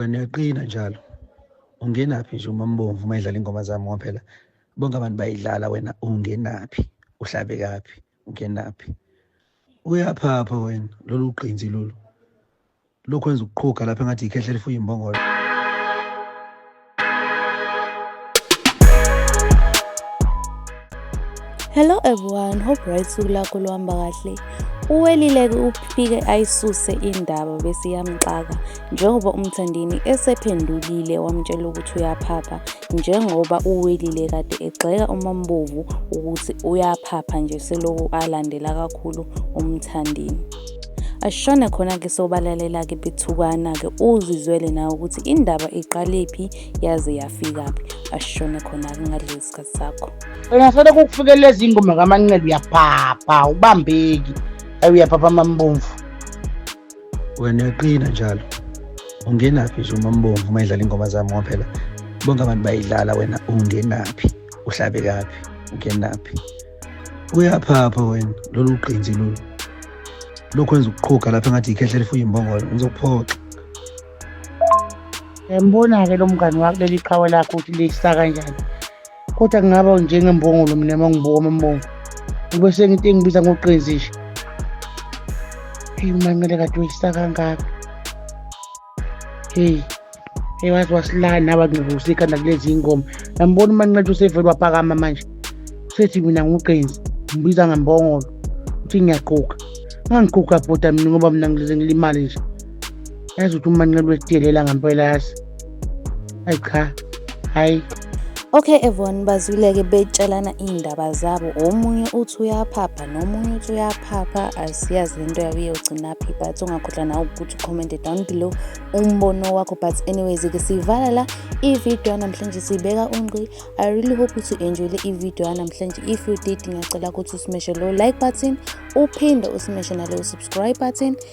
wena uyaqina njalo ungenaphi nje uma mbomvu uma idlala ingoma zami ngoba phela bonke abantu bayidlala wena ungenaphi uhlabe kaphi ungenaphi uyaphapha wena lolu qinzi lolu lokhu wenza ukuqhuga lapha engathi ikhehle lifuye imbongolo Hello everyone, hope right suku lakho luhamba kahle. Uwelileke uphike ayisuse indaba bese yamxaka njengoba umthandini esephendulile wamtshela ukuthi uyaphapha njengoba uwelile kade egxeka umambovu ukuthi uyaphapha nje seloku alandela kakhulu umthandini. ashone khona-ke sobalalelake bethukana-ke uzizwele nawe ukuthi indaba iqalephi yaze yafikaphi ashone khona-ke ngalezi isikhathi sakho ungafanele kukufikela ezingoma kamanqele uyaphapha ubambeki ayi uyaphapha amambomvu wena uyaqina njalo ungenaphi nje umambomvu uma idlala ingoma zami ngoba phela bonke abantu bayidlala wena ungenaphi uhlabe kaphi ungenaphi uyaphapha wena lolu qinzi lolu lokhu wenza ukuqhuga lapha engathi yikhehla lifuye imbongolo ngizokuphoxa Yambona-ke lo mngani wakho leli qhawe lakho ukuthi lisa kanjani kodwa kungaba njengembongolo mina uma ngibuka amambongo ngibe senginte engibiza ngoqenzi nje eyi umancele kade uyisa kangaka heyi heyi waze wasilala naba ngivusa ikhanda kulezi yingoma nambona umancele usevele waphakama manje usethi mina nguqenzi ngibiza ngembongolo uthi ngiyaqhuka ngangighuga bhuda mina ngoba mina ngilimali nje yazi ukuthi umanqele wesidelela ngampela yazi ayi cha hayi Okay Evon bazwileke betshelana iy'ndaba zabo omunye uthi uyaphapha nomunye uthi uyaphapha asiyazi lento yabo iyogcinaphi but ungakhohlwa nawe ukuthi ucommente down below umbono wakho but anyways ke siyivala la ividiyo yanamhlanje siyibeka ungqi i really hope ukuthi u-enjoyile ividiyo yanamhlanje if you did ngiyacela ukuthi usimeshe lowo like button uphinde usimeshe naleyo subscribe button